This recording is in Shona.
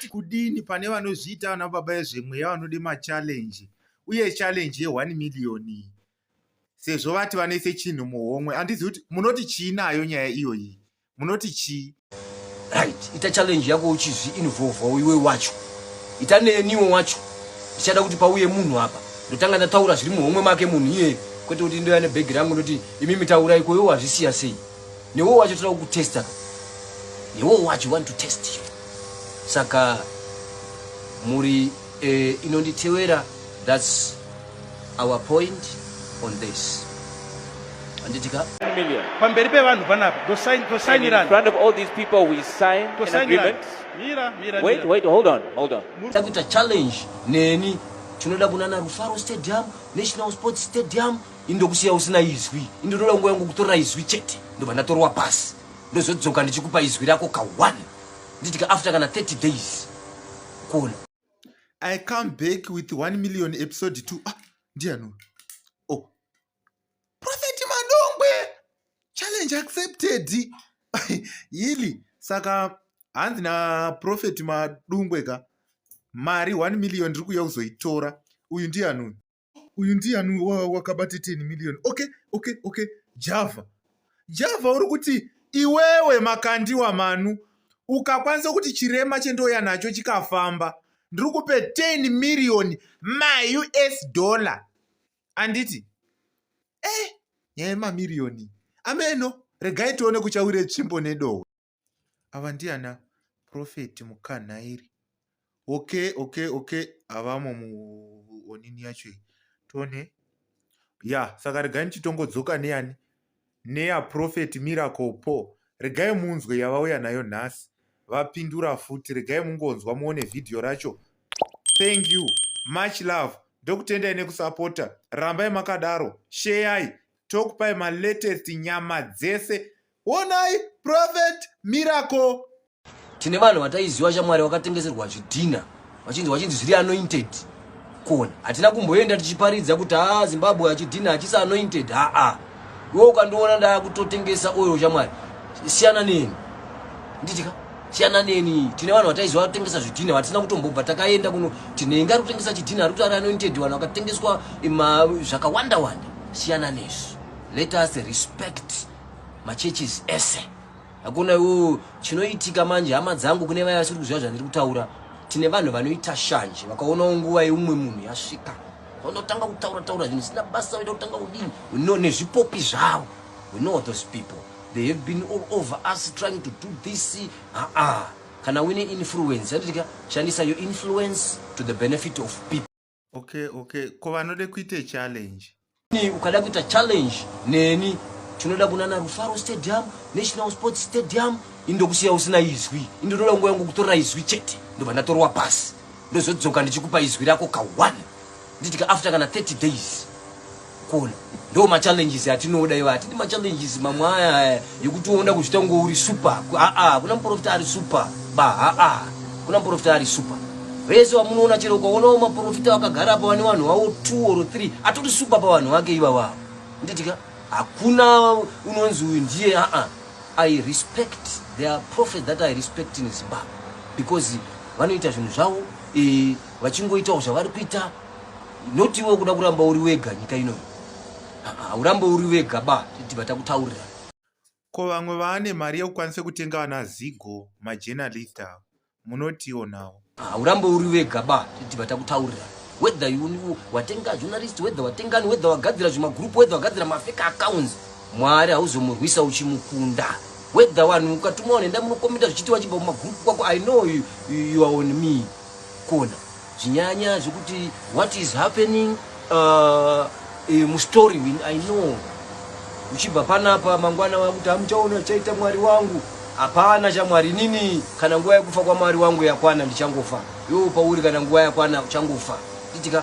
kudini pane vanozviita vana baba vezvemweya vanode machallenji uye challenji ye1 miriyoni sezvo vati vanoise chinhu muhomwe andizi kuti munoti chii nayo nyaya iyoyi munoti chii right ita challenge yako uchizvi involvawo iwe wacho ita neniwe wacho ndichada kuti pauye munhu apa ndotanga ndataura zviri muhomwe make munhu iye kwete kuti ndoya nebhegi rangu ndoti imi mitaura ikoyo wazvisiya sei newe wacho toda kukutesta ka newe wacho want to test you saka muri eh, inonditewera that's our point on this anditika million pamberi pevanhu panapa tosainirana in front of all these people we sign an agreement mira mira wait wait hold on hold on takuita challenge neni tinoda kunana rufaro stadium national sports stadium indokusiya usina izwi indotoda nguva yangu kutorera izwi chete ndobva ndatorwa pasi ndozodzoka ndichikupa izwi rako ka one nditika after kana 30 days kuona i come back with 1 million episode 2 ah ndiano oh profeti madongwe challenge accepted yili saka hanzi naprofeti madungwe ka mari 1 million ndiri kuuya kuzoitora uyu ndianoni uyu ndiyani wakabata 10 million okay okay okay java java uri kuti iwewe makandiwa manu ukakwanisa kuti chirema chendouya nacho chikafamba ndiri kupe 10 miriyoni maus dollar anditi e eh, nyaya yemamiriyoni ameno regai tione kuchawire tsvimbo nedohwe Ava ndiana prophet mukanhairi. Okay okay okay avamo muonini yacho iyi. Tone. Ya saka regai ndichitongodzoka neyani neya prophet miracle paul regai munzwe yavauya nayo nhasi vapindura futi regai mungonzwa muone vhidhiyo racho thank you much love ndokutendai nekusapota rambai makadaro sheyai tokupai malatest nyama dzese Honai Prophet Miracle. Tine vanhu vataiziva shamwari vakatengeserwa zvidhina vachinzi vachinzi zviri anointed kona hatina kumboenda tichiparidza kuti haa ah, zimbabwe hachidhina hachisi anointed haa ah. iwe ukandiona ndaakutotengesa oil shamwari siyana neni nditika siyana neni tine vanhu vataiziva vatengesa zvidhina vatisina kutombobva takaenda kuno tinenge ari kutengesa chidhina ari kuti ari anointed vanhu vakatengeswa zvakawanda wanda siyana nezvi let us respect machurches ese hakuna iwo chinoitika manje hama dzangu kune vaya vasiri kuziva zvandiri kutaura tine vanhu vanoita shanje vakaonawo nguva yeumwe munhu yasvika vanotanga kutaura taura zvinhu zvisina basa vaida kutanga kudini no nezvipopi zvavo we know those people they have been all over us trying to do this aa ah, ah. kana wine influence yanditika shandisa your influence to the benefit of people okay okay ko vanode kuita challenge ni ukada kuita challenge neni tinoda kunana rufaro stadium national sports stadium indokusiya usina izwi indotoda nguva yangu kutorera izwi chete ndobva ndatorwa pasi ndozodzoka ndichikupa izwi rako ka one nditika after kana 30 days Kuona ndo ma challenges atinoda iwa atidi ma challenges mamwe aya yekuti unoda kuzvita kunge uri super a a kuna muprofita ari super ba a a kuna muprofita ari super vese vamunoona chero ukaonawo maprofita vakagara apa vane vanhu vavo two or three atori super pa vanhu vake iva vavo nditika hakuna unonzi uyu ndiye a a i respect their prophet that i respect in zimbabwe because vanoita zvinhu zvavo eh, vachingoitawo zvavari kuita not iwe kuda kuramba uri wega nyika ino haurambe uri wega ba tibva takutaurira ko vamwe vaane mari yekukwanisa kutenga vana zigo majournalist avo munotiwo nawo haurambe uri wega ba tibva takutaurira whether you watenga journalist whether watengani whether wagadzira zvimagroup whether wagadzira mafeka accounts mwari hauzomurwisa uchimukunda whether vanhu ukatumwa vanhu enda munokomenta zvichiti wachibva mumagroup kwako i know you, you are on me kuona zvinyanya zvekuti what is happening uh, eh, mustory win i know uchibva panapa mangwana vakuti hamuchaona chaita mwari wangu hapana chamwari nini kana nguva yekufa kwamwari wangu yakwana ndichangofa yo pauri kana nguva yakwana uchangofa nditika